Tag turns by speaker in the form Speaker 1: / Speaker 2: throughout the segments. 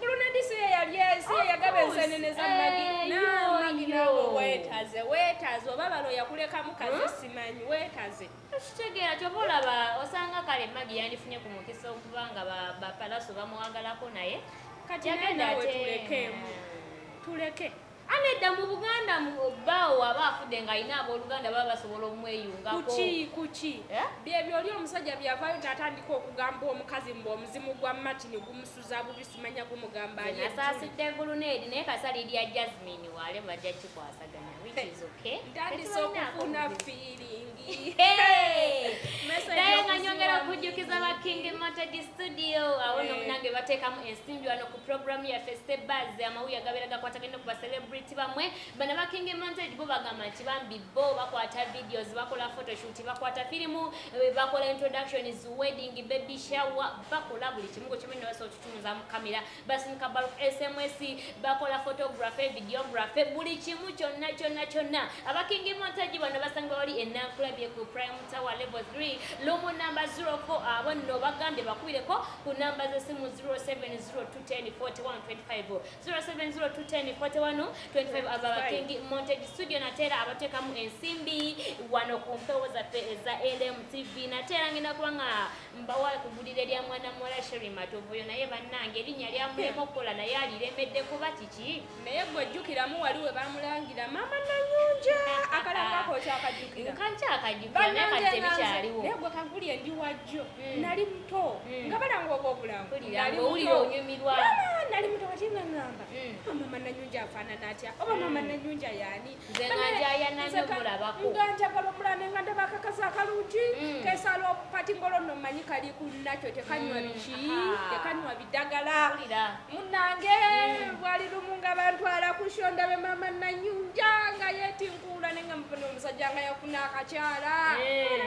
Speaker 1: Bulunedi si ye yali si ye yagaba ensenene za magi eh, namagi nawe wetaze wetaze oba balo yakulekamu kazi hmm? simanyi wetaze kitegeera kyoba
Speaker 2: olaba osanga kale magi yandifunye ku mukisa okuba nga bapalaso bamuwagalako naye kati naye nawe
Speaker 1: tulekemu tuleke Anedda mu Buganda
Speaker 2: bbaawo aba afudde ng'alina abooluganda baba basobola omweyungako. Kuki kuki eh?
Speaker 1: byebyo oli omusajja byavayo natandika okugamba omukazi mbu omuzimu gwa Martin gumusuza bubi simanya gumugamba ali. Nasaasidde eggulu n'eri
Speaker 2: naye kasali lya Jasmine wale bajja kikwasaganya which is okay. Ntandise okufuna
Speaker 1: fiiringi.
Speaker 2: Naye nga nyongera okujjukiza ba King Matadi studio awo no munange bateekamu ensimbi wano Program yaffe Step Buzz amawulire agabeera gakwataganye ku celebrity bamwe bana ba King Montage bo bagamba nti bambi bo bakwata videos bakola photoshoot bakwata firimu eh, bakola introductions wedding baby shower bakola buli kimu kwekimu ne basobola okutunza mu kamera basinika bulk sms bakola photography videography buli kimu kyonna kyonna kyonna aba King Montage bano basanga wali enankulabye ku Prime Tower level 3 lomo number 04 abo nno bagambye bakubireko ku namba z'essimu 0702104125 0702104125 aba bakingi montage studio nateera abateekamu ensimbi wano ku mpewo zaffe eza lmtv nateera ngenda kuba nga mbawa kugulira erya mwana muwala sheri matovu oyo naye bannange erinnya lyamulema okukola naye aliremedde kuba kiki naye gwe jjukiramu
Speaker 1: wali we bamulangira maama nanyunja akalangako okyakajukirabanangenaye
Speaker 2: gwe kankuli endi
Speaker 1: wajjo hmm. nali muto hmm. nga balanga obwo obulangunyumirwa
Speaker 2: nali muto kati
Speaker 1: nga ngamba hmm. ah, maama nanyunja afaanana atya oba maama nanyunja yaani nze nga njayana
Speaker 2: nyo mulabako nga njagala omulande
Speaker 1: nga ndaba akakazi akalungi mm. kesala okupati ngolo no manyi kali ku nakyo tekanywa mm. biki tekanywa bidagala munange mm. bwali lumu nga bantu ala kusho ndabe mama nanyunja nga yeti nkula nenga mupano omusajja nga yafuna akakyala eh.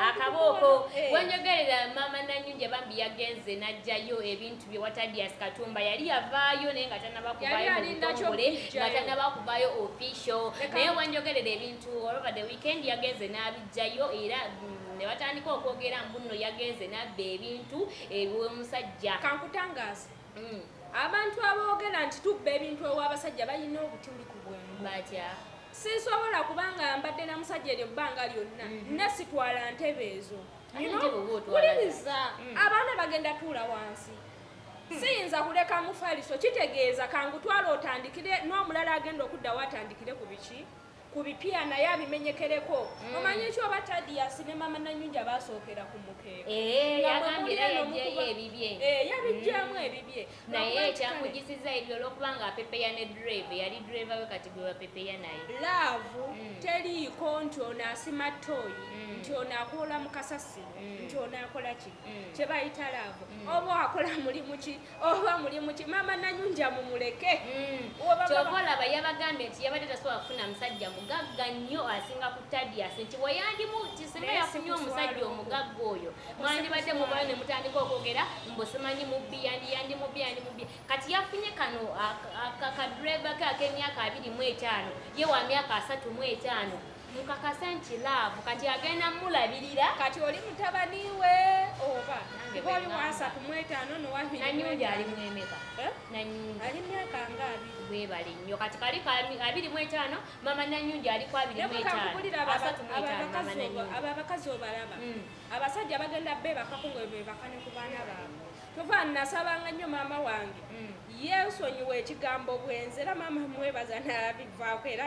Speaker 1: akaboko
Speaker 2: eh. wenyogerera mama nanyunja bambi yagenze najjayo ebintu bye watadias katumba yali yavaayo naye nga tanaba kuvayo mubitongole nga tanaba kuvayo official naye wanjogerera ebintu olover the weekend yagenze n'abijjayo era mm, ne batandika okwogera mbunno yagenze nabba ebintu eby'omusajja kankutangaza
Speaker 1: mm. abantu aboogera nti tubba ebintu ew'abasajja balina obutuli ku bwengu batya
Speaker 2: sinsobola
Speaker 1: kubanga mbadde na musajja eryo bbanga lyonna mm-hmm. nasitwala ntebe ezo mm -hmm. kuliriza mm. abaana bagenda tuula wansi hmm. siyinza kuleka mufaliso kitegeeza kangutwala otandikire n'omulala agenda okuddawo atandikire ku biki ku bipya naye abimenyekereko mm. omanyi ekyo oba tadiasi ne mama nanyunja basookera ku mukeeko
Speaker 2: eh, yabijjamu eh,
Speaker 1: ebibye naye ekyamujisizza
Speaker 2: ebyo olwokuba nga apepeya ne drive eyali drive we kati gwe bapepeya naye laavu mm.
Speaker 1: teriiko nti ono asima toyi mm. nti ono akoola mu kasasi mm. nti ono akola ki kye bayita laavu oba akola mulimu ki oba mulimu ki maama nanyunja mumuleke kyova
Speaker 2: olaba yabagambye nti yabadde tasobola kufuna musajja mugagga nnyo asinga ku tadiasi nti weyandimu kisinga yafunye omusajja omugagga oyo mwandibadde mubala ne mutandika okwogera mbu simanyi mubbi yandi yandi mubbi yandi mubbi kati yafunye kano akadreva ke ak'emyaka abiri mu etaano ye wa myaka asatu mu etaano mukakase nti laavu kati agenda mulabirira kati oli mutabani
Speaker 1: we oba oli wasatu mu etaano nowanyundi ali mwemeka
Speaker 2: eh? nanyundi ali
Speaker 1: myaka nga abiri webali nnyo kati kali
Speaker 2: abiri mu etaano mama nanyungi aliko abiri mu etaano asatu mu etaano mama nanyungi abo abakazi obalaba
Speaker 1: mm. abasajja bagenda bebakako nga bebakane ku baana baabwe tova nasabanga nnyo maama wange mm. yensonyiwa ekigambo bwenzi era maama mwebaza nabivaako era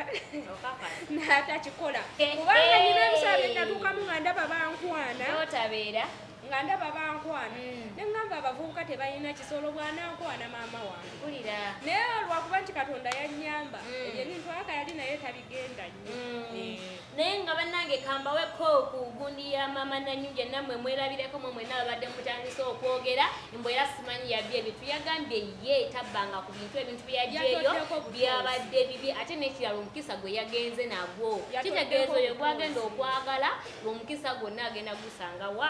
Speaker 1: natakikola eh, kubanga nyina eh. ebisaa byenatuukamu nga ndaba bankwana otabeera nga ndaba bankwana mm. ne ŋŋamba abavubuka tebalina kisolo bwanankwana maama wange naye olwakuba nti katonda yannyamba mm. ebyo ebintu aka yali naye tabigenda nnyo mm. eh. naye nga
Speaker 2: bannange kambaweko ku gundi ya maama nanyunja nammwe mwerabireko mwe mwena babadde mutandise okwogera mbu era simanyi yabbi ebintu yagambye ye tabbanga ku bintu ebintu byeyagyeyo byabadde bibi ate nekirala omukisa gwe yagenze nagwo kitegeeza oyo gwagenda okwagala omukisa gwonna agenda gusanga wa